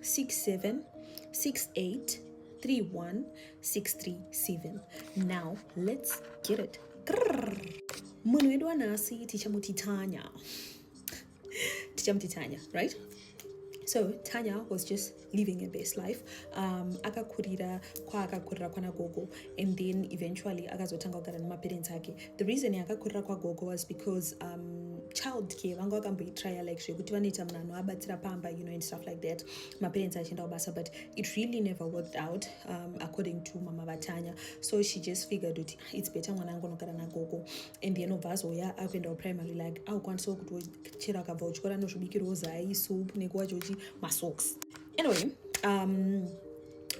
67683163 now let's get it munhu wedu wanhasi tichamuti tanya tichamuti tanya right so tanya was just living a best life um, akakurira kwaakakurira kwana gogo and then eventually akazotanga kugara nemaparents ake the reason yakakurira kwagogo was because um, child care vanga vakamboitraya like zvekuti vanoita munhu anovabatsira pamba you know and stuff like that maparents achienda kubasa but it really never worked out um, according to mama vatanya so she just figured kuti ah, its better mwana angu anogara nagogo and then obva azoya akuenda kuprimary like aukwanisawo kuti chero akabva uchikora nozvibikirwo zai soup nekuwachochi masocks anyway um,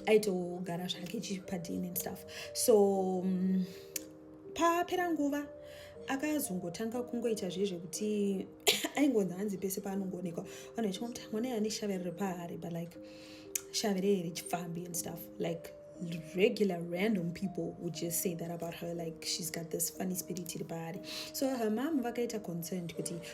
aitogara zvake chipadini and stuff so um, papera nguva akazongotanga kungoita zviye zvekuti aingonzi hanzi pese paanongoonekwa vanhu vachimwa kuti mwana yane shavere repaari but like shavere here chipfambi and stuff like regular random people would just say that about her like she's got this funny spirit iri paari so her mom vakaita concerned kuti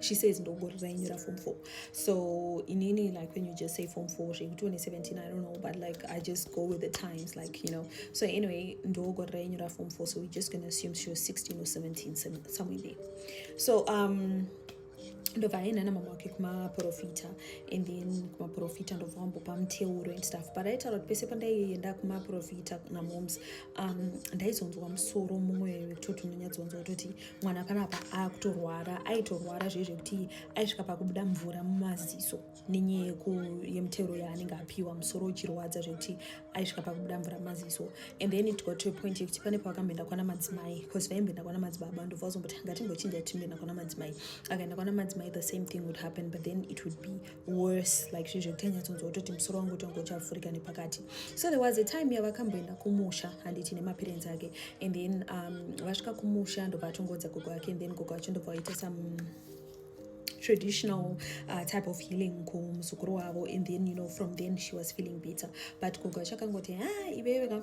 she says ndongori rainyora form four so inini like when you just say form four zvekuti une 17 i don't know but like i just go with the times like you know so anyway ndongori rainyora form four so we're just gonna assume she was 16 or 17 somewhere there so um ndobva aenda namama wake kumaprofita and then kumaprofita ndobva wambopa muteuro and stuff but aitaura kuti pese pandaienda kumaprofita namoms um, ndaizonzwa musoro mumwe wekutoti unonyatsonzwa kutoti mwana panapa akutorwara aitorwara zviye zvekuti aisvika pakubuda mvura mumaziso nenyaya yemutero yaanenge apiwa musoro uchirwadza zvekuti aisvika pakubuda mvura mumaziso and then it got to a point yekuti pane paakamboenda kwana madzimai bcause vaimboenda kwana madzibaba ndobva vazomboti ngatingochinja timbenda kwana madzimai akaenda kwana madzimai the same thing would happen but then it would be worse like zvinhu zvekuti anyatsonzwa kutoti musoro wangu utonge uchavhurika nepakati so there was a time yavakamboenda kumusha handiti nemaparents ake and then um, vasvika kumusha ndobva atongoudza gogo ake and then gogo vacho ndobva vaita some traditional uh, type of healing kumuzukuru wavo and then you know from then she was feeling better but gogo vacho akangoti ha ah, iveiveka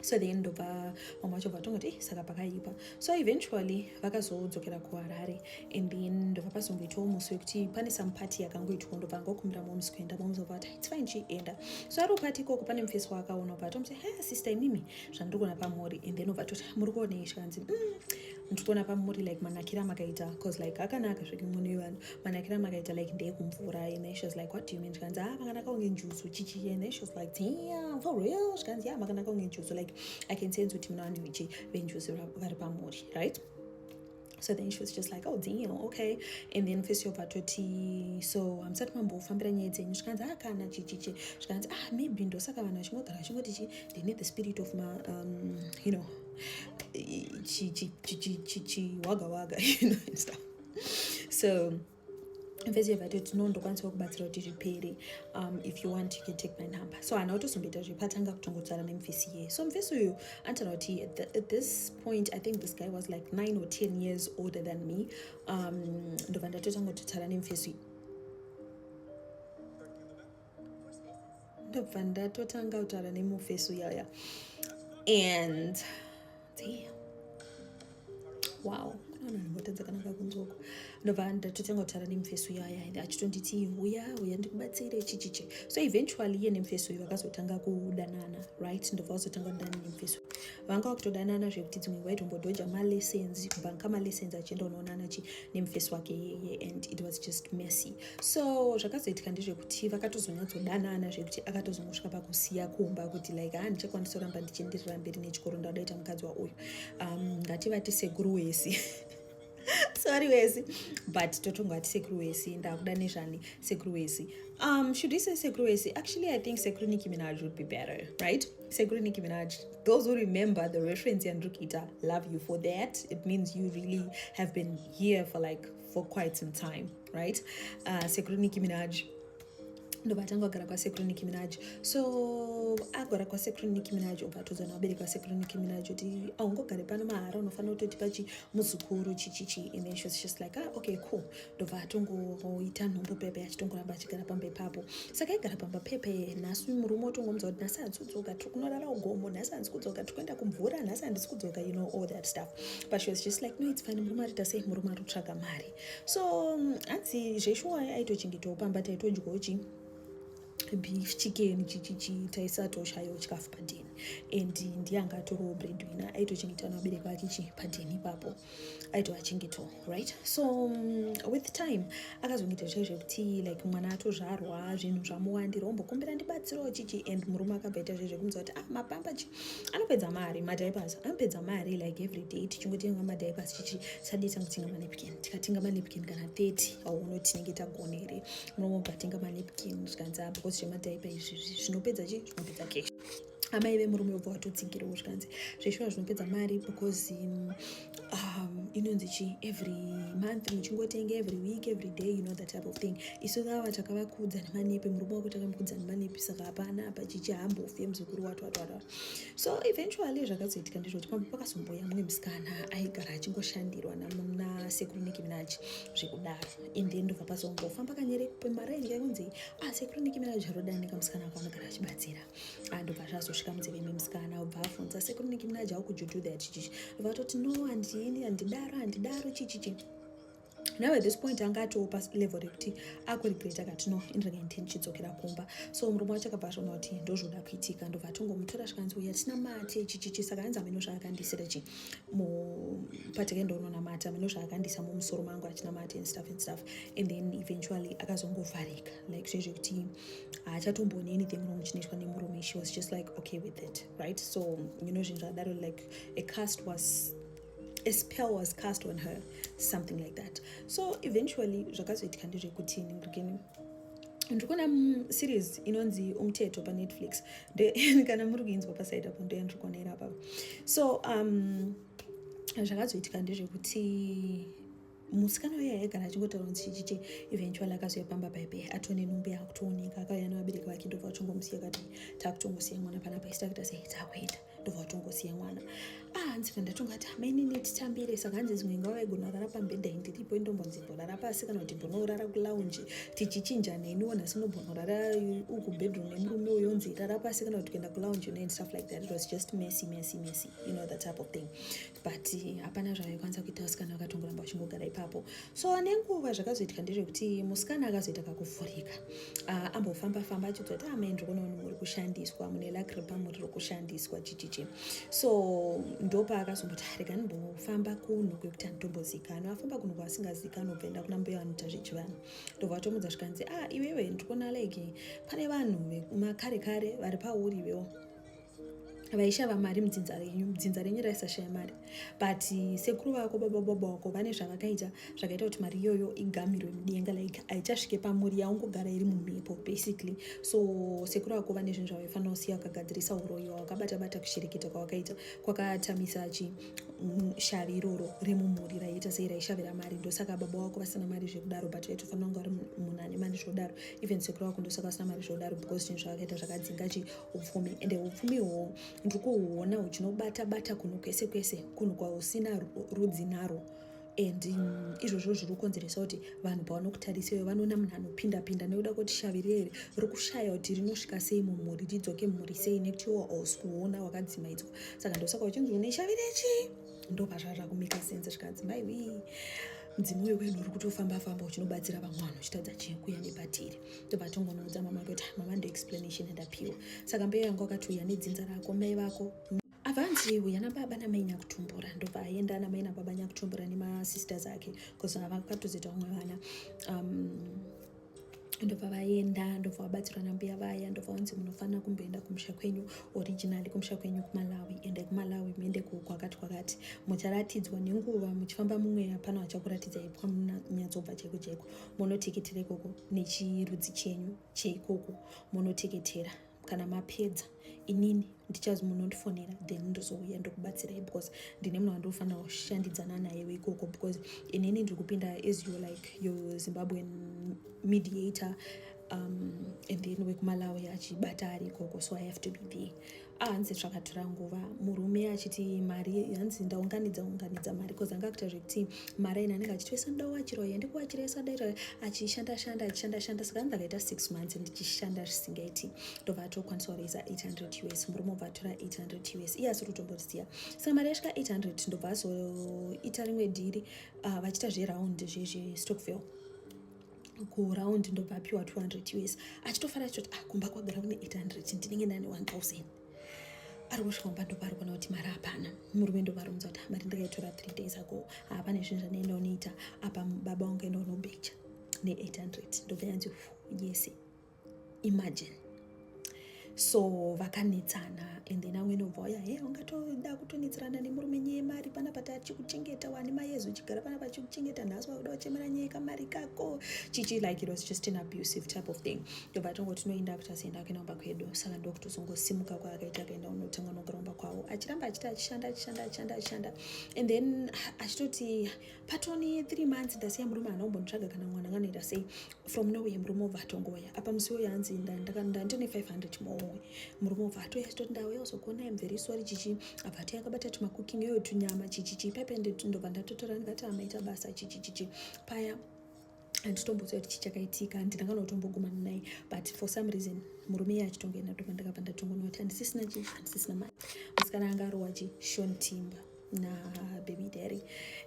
so then ndobva vamwe vacho vatongoti eh, saka pakaipa so eventually vakazodzokera kuharare and then ndobva pazongoitawo musi wekuti pane some party yakangoitwa ndobva angokumbira moms kuenda moms obva vati its fine chienda so ari party ikoko pane mufesi waakaona obva atomuti he eh, sister imimi zvandiri kuona pamuri and then obva toti ah, muri kuonei zvikanzi mm, ndiri kuona pamuri like manakira makaita bcause like akanaka zveke mune vanhu manakira makaita like ndeye kumvura and then she was like what do you mean zvikanzi ah makanaka kunge njuzu chichi and then she was like damn for real zvikanzi yeah makanaka kunge njuzu like i can sense kuti muna vanhu vechi venjuzu vari pamuri right so then she was just like oh damn okay and then face yobva toti so hamusati mambofambira nyaya dzenyu zvikanzi ah kana chichichi zvikanzi ah maybe ndosaka vanhu vachingogara vachingoti chi they need the spirit of ma um, you know chiwagawaga you know and stuff so mfesi yevati tino ndokwanisa kubatsira kuti zvipere um, if you want you can take my number so hana kutozomboita zvepatanga kutongotsvara nemfesi iye so mfesi uyu anotara kuti at this point i think this guy was like nine or ten years older than me um, ndobva ndatotanga kutotsvara nemfesi uyu ndobva ndatotanga kutaura nemufesi uyaya and wow notadza kana kakunzoko ndobva ndatotanga kutaura nemufesi uyo aya achitonditi huya huya ndikubatsire chichichi so eventually iye nemufesi uyo vakazotanga kudanana right ndobva vazotanga kudana nemufesi vanga vakutodanana zvekuti dzimwe nguva itombodhoja malessons kubhanka malessons achienda unoonana chi nemufesi wake yeye and it was just messy so zvakazoitika ndezvekuti vakatozonyatsodanana zvekuti akatozongosvika pakusiya kumba kuti like ha ah, ndichakwanisa kuramba ndichienderera mberi nechikoro ndada ita mukadzi wauyu um, ngativati sekuru wesi sorry wesi but totongo ati sekuru wesi ndakuda nezvani sekuru wesi um, should we say sekuru wesi actually i think sekuru niki minaj would be better right sekuru niki minaj those who remember the reference yandrikita love you for that it means you really have been here for like for quite some time right uh, sekuru nicki minaj ndovatanga kugara kwasekuru nicki minaj so agara kwasekuru nicki minaj ukatodzana vabereki vasekuru nicki minaj kuti aungogare pano mahara unofanira kutotipa chi muzukuru chichichi and then she was just like ah, okay cool ndobva atongoita nhombo pepe achitongoramba achigara pamba ipapo saka aigara pamba pepe nhasi murume otongomudza kuti nhasi handisi kudzoka tiri kunorara ugomo nhasi handisi kudzoka tiri kuenda kumvura nhasi handisi kudzoka you know all that stuff but she was just like no it's fine murume arita sei murume ari kutsvaga mari so mm, hanzi zveshuwa aitochengetawo pamba taitodyawo chii beef chicken chichichi taisatoshayo chikafu padheni and ndiye anga atorowo breadwina aitochengeta nabereki vake chi padheni ipapo aitoachengetawo right so um, with time akazongoita zvichai zvekuti like mwana atozvarwa zvinhu zvamuwandira ombokumbira ndibatsirawo chichi and murume akabva ita zviye zvekunzwa kuti ah mapamba chi anopedza mari madiapers anopedza mari like every day tichingotenga madiapers chichi sadii tangotenga manepkin tikatenga manepkin kana 30 auona tinenge tagona here murume obva atenga manepkin zvikanzi ah, because zvemadiaper izvi zvinopedza chi zvinopedza cash amai vemurume vobva vatotsigirawo zvikanzi zveshuwa zvinopedza mari because um, um, inonzi chi every month muchingotenga every week every day you know that type of thing isu vava takavakudza nemanepi murume wako takamukudza nemanepi saka hapana apa chichi hambofe muzukuru wato wato wato so eventually zvakazoitika ndizvoti pamwe pakazomboya mumwe musikana aigara achingoshandirwa nasekuru niki minaji zvekudaro and then ndobva pazongofamba kanyere pemari ainge yakunzi asekuru ah, niki minaji arodanika musikana wako anogara achibatsira andobva zvazosvika munzeve imwe musikana ubva afunza sekuru niki munaja how could you do that chichichi vatoti no handini handidaro handidaro chichichi now at this point anga atiwo palevel rekuti akuregreta kati no inrega intini chidzokera kumba so murume wacho akabva azvona kuti ndozvoda kuitika ndobva atongomutora zvikanzi uya tisina mati chichichi saka anzi ameno zvaakandisira chi mupateke ndounonamata ameno zvaakandisa mumusoro mangu achinamati and stuff and stuff and then eventually akazongovharika like zvezvekuti haachatombooni anything wrong chinoitwa nemurume she was just like okay with it right so you know zvinhu zvadaro like a cast was a spell was cast on her something like that so eventually zvakazoitika ndezvekuti ndikugeni ndikuona series inonzi umteto panetflix kana muri kuinzwa pasaid apo ndoya ndiri kuona iri apapa so um zvakazoitika ndezvekuti musikana uya aigara achingotaura nzichichiche eventually akazoya pamba paipe atone nhumbu yaakutooneka akauya nevabereki vake ndobva vatongomusiya kati taakutongosiya mwana panapa isi takuita sei takuenda ndobva vatongosiya mwana ah nzira ndatonga ati amainini titambire saka hanzi dzimwe nguva vaigona kurara pambhedha ini tiripo indombonzi mborara pasi kana kuti mbonorara kulaunji tichichinja neni wona sinobhonorara uku bedroom nemurume uyo nzi rara pasi kana kuti kuenda kulaunji neni stuff like that it was just messy messy messy you know that type of thing but hapana zvavaikwanisa kuita vasikana vakatongoramba vachingogara ipapo so nenguva zvakazoitika ndezvekuti musikana akazoita kakuvhurika uh, ambofamba famba achiudza kuti amai ah, ndiri kunoona muri kushandiswa mune lakripa muri rokushandiswa chichichi so ndopa akazomboti ah, rega ndimbofamba kuno kwekuti anditombozikanwa afamba kuno kwasingazikanwa obvaenda kuna mbuya vanoita zvechivanhu ndobva vatomudza zvikanzi a ah, iwewe ndiri kuona like pane vanhu vekumakare kare vari pauri iwewo vaishava mari mudzinza renyu mudzinza renyu raisashaya mari but sekuru vako baba baba wako vane zvavakaita zvakaita kuti mari iyoyo igamirwe mudenga like haichasvike pamuri yaungogara iri mumhepo basically so sekuru vako vane zvinhu zvavaifanira kusiya vakagadzirisa uroyi wawakabata bata kushereketa kwawakaita kwakatamisa chi mm, shavi iroro remumhuri raiita sei raishavira mari ndosaka baba wako vasina mari zvekudaro but vaitofanira kunge vari munhu ane mari zvodaro even sekuru vako ndosaka vasina mari zvodaro because zvinhu zvavakaita zvakadzinga chi upfumi ende upfumi uhwohwo ndiri kuhuona huchinobata bata kunhu kwese kwese kunhu kwahusina rudzi narwo and mm, izvozvo zviri kukonzeresa kuti vanhu pavanokutariseyo vanoona munhu anopinda pinda nekuda kuti shavi rere riri kushaya kuti rinosvika sei mumhuri ridzoke mhuri sei nekuti iwo hausi kuona wakadzimaidzwa saka ndosaka uchinzi une shavi rechi ndopazvazva kumeka sense zvikanzi mai wii mudzimu wekwedu uri kutofamba famba uchinobatsira vamwe vanhu uchitadza chekuya nepatiri tobva tongonoudza mama kuti mama ndo explanation yandapiwa saka mbeyo yangu akatiuya nedzinza rako mai vako avanzi uya nababa namai nyakutumbura ndobva aenda namai nababa nyakutumbura nemasisters ake bcause vakatozoita vamwe vana um, ndobva vaenda ndobva vabatsirwa nambuya vaya ndobva vanzi munofanira kumboenda kumusha kwenyu originali kumusha kwenyu kumalawi endai kumalawi muende kwakati kwakati mucharatidzwa nenguva muchifamba mumweya pano vachakuraridza ipwa munyatsobva chaiko chaiko munoteketera ikoko nechirudzi chenyu cheikoko munoteketera kana mapedza inini ndichazi munondifonera then ndozouya ndokubatsirai because ndine munhu wandofanira kushandidzana naye weikoko because inini ndiri kupinda as you like your zimbabwean mediator um, and then wekumalawi achibata ari ikoko so i have to be there hanzi zvakatora nguva murume achiti mari hanzi ndaunganidza unganidza mari bcause anga akuita zvekuti mari aina anenge achiti wesa ndawachira uye ndikuwachira yesa daita achishanda shanda achishanda shanda saka anzi akaita six months ndichishanda zvisingaiti ndobva atokwanisa kureisa 800 us murume obva atora 800 us iye asiri kutomboziva saka mari yasvika 800 ndobva azoita rimwe dhiri ah, vachiita zveraundi zvezvestokville kuround ndobva apiwa 200 us achitofara choti ah kumba kwagara kune 800 ndinenge ndane 1000 ari kusvika kumba ndopaari kuona kuti mari hapana murume ndovarunza kuti ah, mari ndakaitora 3 days ago hapana ah, zvinhu zvandaenda unoita apa baba wangu enda unobhecha ne 800 ndobva yanzi yese imagine so vakanetsana and then amwe inobva waya he ungatoda kutonetsana nemurume nyaya yemari pana pati achikuchengeta wani mai yezu uchigara pana pachikuchengeta nhasi wakuda wachemera nyaya yekamari kako chichi like it was just an abusive type of thing ndobva tongo tinoenda kuti asienda kuenda kumba kwedu saka ndokutozongosimuka kwaakaita akaenda unotanga unogara kumba kwavo achiramba achiti achishanda achishanda achishanda achishanda and then achitoti patone three months ndasiya murume haana kumbonditsvaga kana mwana nganoita sei from nowhere murume obva atongouya apa musi woyo anzi ndandine 500 mowe murume obva atouya achitoti ndauya uzogona im very sorry chichi abva atouya akabata tumakuking iyoyo tunyama chichichi paipe ndobva ndatotora ndikati amaita basa chichichichi paya handitomboziva kuti chii chakaitika handina kana kutombogumana naye but for some reason murume iye achitonga ina toma ndakabva ndatongonwa kuti handisisina chii handisisina mari musikana anga arowa chi shon timba nababy dary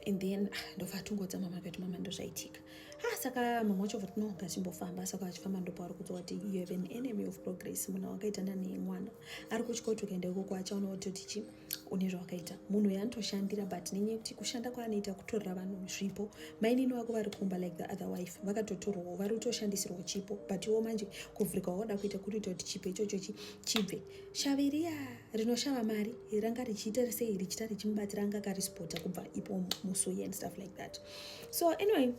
and then ah, ndobva atongodza mama akati mama ndozvaitika ha ah, saka mama wacho vati no ngachimbofamba saka vachifamba ndopo ari kudzoa kuti you have an enemy of progress munhu wakaitana nemwana ari kuchikoti ukaenda ikoko achaona kuti kuti chii une zvawakaita munhu uyo anotoshandira but nenyaya yekuti kushanda kwaanoita kutorera vanhu zvipo mainini vako vari kumba like the other wife vakatotorwawo vari kutoshandisirwa chipo but iwo manje kuvhurika waoda kuita kurita kuti chipo ichocho chibve shavi riya rinoshava mari ranga richiita sei richita richimubatsira anga karispota kubva ipo musuye and stuff like that so anyway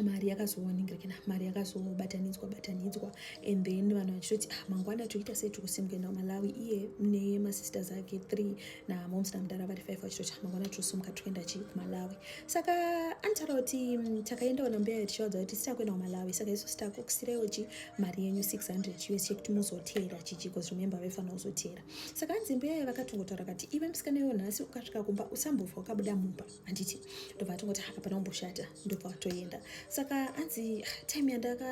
mari yakazooningirikina mari yakazobatanidzwa batanidzwa and then vanhu vachitoti ah, mangwana toita sei tikusimuka kuenda kumalawi iye nemasisters ake three namoms namudara vari five vachitoti ah, mangwana tosimuka tikuenda chii kumalawi saka anitaura kuti mm, takaenda ona mbeya tichivaudza kuti sitakuenda kumalawi saka isu sitakukusiraiwo chi mari yenyu 600 us chekuti muzoteera chichi bcause remember vaifanira kuzoteera saka anzi mbeya vakatongotaura kati ive musikana iwo nhasi ukasvika kumba usambofa ukabuda mumba handiti ndobva atongoti hapana kumboshata ndobva atoenda saka hanzi time yandaka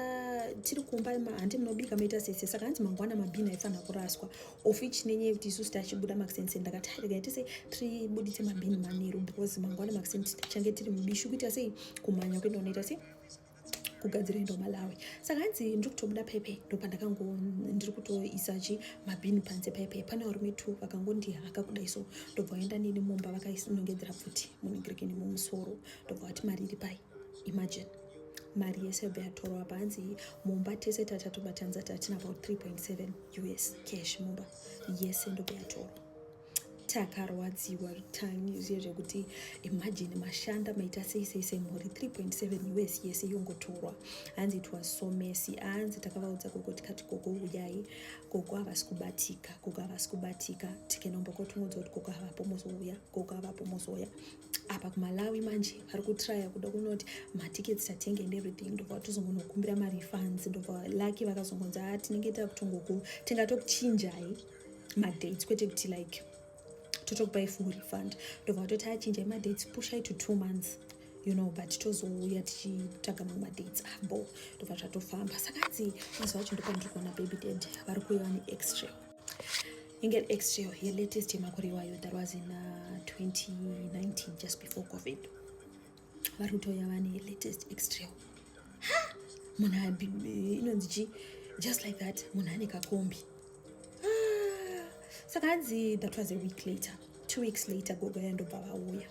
tiri kumba handi munobika maita sese saka hanzi mangwana mabhini aifanira kuraswa of which nenyaya yekuti isusu tachibuda maxense ndakati haregai tese tiribuditse mabhini manheru because mangwana maxense tichange tiri mubishi kuita sei kumhanya kwenda unoita sei kugadzira enda malawi saka hanzi ndiri kutobuda pepe ndopandakango ndiri kutoisa chi mabhini panze pepe pane varume two vakangondihaka kudai so ndobva vaenda nini mumba vakainongedzera pfuti munogrekeni mumusoro ndobva vati mari iri pai imagine mari yese yobva yatorwa panzi mumba tese tatatu batanza tatina about 3.7 us cash mumba yese ndobva yatorwa takarwadziwa times yezvekuti imagine mashanda maita sei sei semhuri 3.7 us yese yongotorwa hanzi it was so messy hanzi takavaudza gogo tikati gogo uyai gogo havasi kubatika gogo havasi kubatika tikenombokotongudza kuti gogo havapo mozouya gogo havapo mozouya apa kumalawi manje vari kutraya kuda kunoti matikets tatenge and everything ndobva tozongonokumbira marefunds ndobva lucky vakazongonzi a ah, tinenge takutongoku tingatokuchinjai madates kwete kuti like totokupai full refund ndobva vatoti achinja madates pushai to two months you know but tozouya tichitsvaga mamwe madates abo ah, ndobva zvatofamba saka hanzi mazuva acho ndopandiri kuona baby dad vari kuuya vane extra inge extra yelatest yemakore iwayo that was in uh, 2019 just before covid vari kutouya vane latest extrail ha munhu inonzi chi just like that munhu ane kakombi ah, saka hanzi that was a week later two weeks later gogo ya ndobva vauya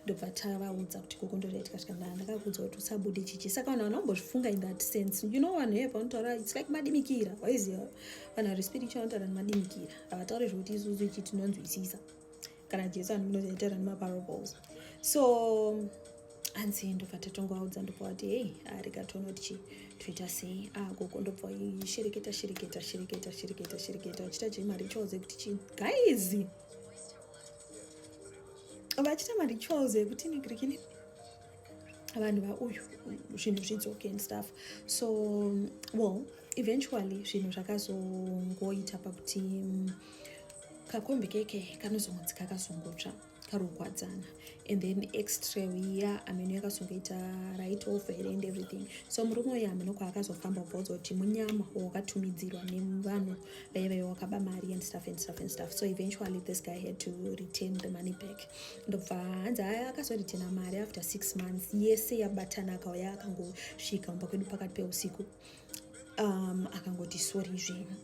ndobva tavaudza kuti gogo ndoraita katika ndaa ndakakuudza kuti usabude chichi saka vanhu vanhu vambozvifunga in that sense you know vanhu heva vanotaura its like madimikira waiziva vanhu vari spiritual vanotaura nemadimikira havataure zvekuti isusu ichi tinonzwisisa kana jesu anozitaura nemaparables so hanzi ndobva tatongovaudza ndokuvati hei arega tonoti chii toita sei agogo ah, ndobva shereketa shereketa shereketa shereketa shereketa vachita chii marituals ekuti chii guys vachita marituals ekuti negrikini vanhu vauyu zvinhu zvidzoke and stuff so well eventually zvinhu zvakazongoita pakuti kakombi keke kanozomudzika kasongotsva karogwadzana and then extra iya ameno yakasongoita right off here and everything so murume uyo ameno kwaakazofamba ubvauza kuti munyama wakatumidzirwa nevanhu vaive vaive wakaba mari and stuff and stuff and stuff so eventually this guy had to retain the money back ndobva hanzi aya akazoretena mari after six months yese yabatana akauya akangosvika umba kwedu pakati peusiku um, akangoti sorry zvenyu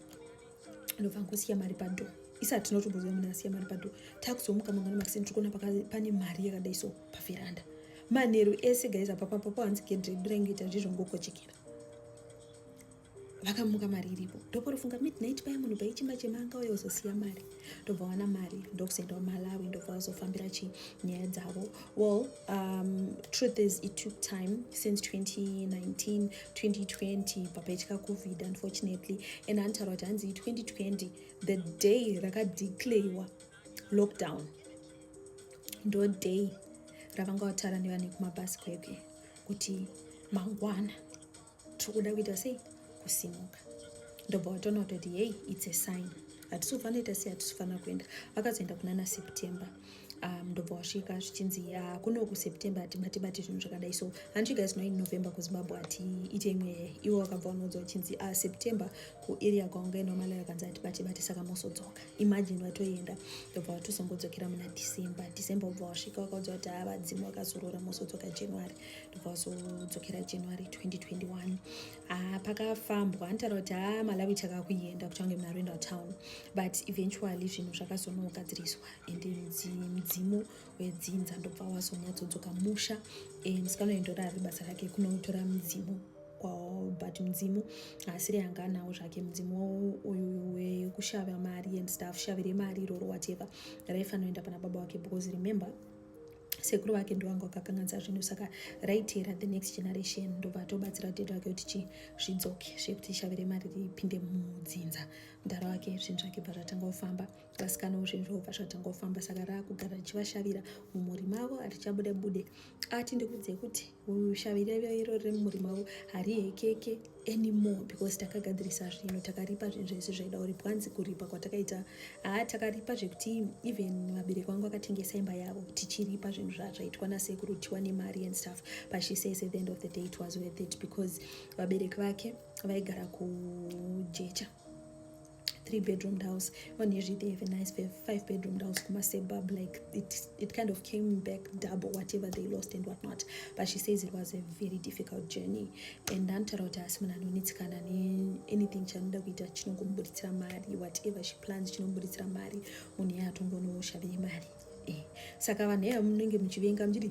ndobva ngosiya mari pado isati tinotomboziva munhu asiya mari pado takuzomuka mangwana makiseni tiri kuona pane mari yakadai so pavheranda manheru ese gaiza papapapo hanzi gedre brengoita ndizvo ngokochekera vakamuka mari iripo ndoporifunga midnight paya munhu paichimba chema anga uya uzosiya mari ndobva wana mari ndokusaendawo malawi ndobva vazofambira chi nyaya dzavo Well, um, truth is it took time since 2019, 2020, papaitika COVID, unfortunately. And antaura kuti hanzi 2020, the day rakadeclarewa lockdown, ndo day ravanga vataura nevane kumabhasikeke kuti mangwana tiri kuda kuita sei kusimuka ndobva watoona kutoti hei its a sign hatisi kufanoita sei hatisi kufanira kuenda vakazoenda kuna naseptember um, ndobva wasvika zvichinzi uh, kuno kuseptember hatibati bati zvinhu zvakadai so hanti guys know in november kuzimbabwe hatiite imwe iwo wakabva unoudza uchinzi uh, september kuarea kwaunge nomalayo akanzi hatibati bati saka mosodzoka imagine vatoenda ndobva watozongodzokera muna december december ubva wasvika wakaudza kuti havadzimu ah, wakazorora mosodzoka january ndobva wazodzokera january 2021 ah, pakafambwa nditaura kuti ha ah, malawi chakakuenda kuti ange munaroenda town but eventually zvinhu zvakazonogadziriswa and mudzimu wedzinza ndobva wazonyatsodzoka musha eh, musikanoendora ari basa rake kunotora mudzimu kwawo but mudzimu asiri anga anawo zvake mudzimu uyu wekushava mari and stuff shavire mari iroro whatever raifanoenda pana baba wake because remember sekuru vake ndovanga vakakanganisa zvinhu saka raitera the next generation ndobva atobatsira tete vake kuti chii zvidzoke zvekuti shavire mari ripinde mudzinza mudhara wake zvinhu zvake bva zvatanga kufamba vasikanawo zvinhu zvavo bva zvatanga kufamba saka raakugara richivashavira mumhuri mavo harichabude bude ati ndikudzei kuti Shaviriro iro riri mumurima wo harihekeke anymore because takagadzirisa zvinhu takaripa zvinhu zvese zvaida kuripwa hanzi kuripa kwatakaita haa takaripa zvekuti even vabereki vangu vakatengesa imba yavo tichiripa zvinhu zvazvaitwa nasekuru tiwane mari and stuff but she says at the end of the day it was worth it because vabereki vake vaigara kujecha three bedroomed house on usually they have a nice five bedroomed house kuma suburb like it it kind of came back double whatever they lost and whatnot but she says it was a very difficult journey and ndanotaura kuti asi munhu anonetsikana neanything chanoda kuita chinongomubuditsira mari whatever she plans chinobuditsira mari munhu yatongonoshaviye mari Eh, saka vanhu eya munenge muchivenga muchiti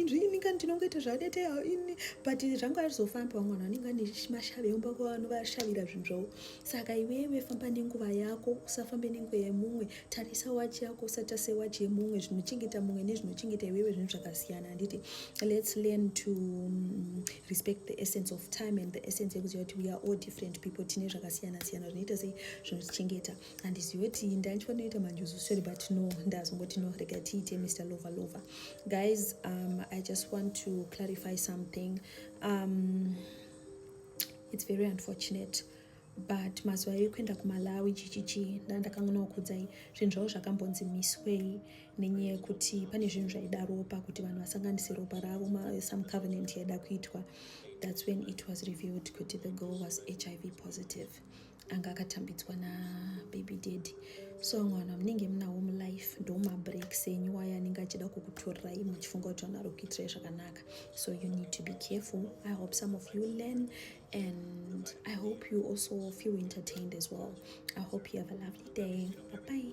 zviini kani tinongoita zvadete ini but zvangu arizofambi vamwe vanhu vanenge vane mashavi eumba kwa vanoshavira zvinhu zvavo saka iwewe famba nenguva yako usafambe nenguva yemumwe tarisa wachi yako usatase wachi yemumwe zvinochengeta mumwe nezvinochengeta iwewe zvinhu zvakasiyana handiti let's learn to mm, respect the essence of time and the essence yekuziva kuti we are all different people tine zvakasiyana siyana zvinoita sei zvinotichengeta handizivi kuti ndaitwa noita manjuzu sorry but no ndazongoti no rega tiite mr lover lover guys um, i just want to clarify something um, it's very unfortunate but mazuva ekuenda kumalawi chichichi ndandakangonaokudzai zvinhu zvavo zvakambonzi miswei nenyaya yekuti pane zvinhu zvaida ropa kuti vanhu vasanganise ropa ravo some covenant yaida kuitwa that's when it was revealed kuti the girl was hiv positive anga akatambidzwa nababy daddy so vamwe vanhu vamunenge munawo mulife ndo mabreaks enyu wayo anenge achida kukutorirai muchifunga kuti vanhu vari kuitirai zvakanaka so you need to be careful i hope some of you learn and i hope you also feel entertained as well i hope you have a lovely day bye bye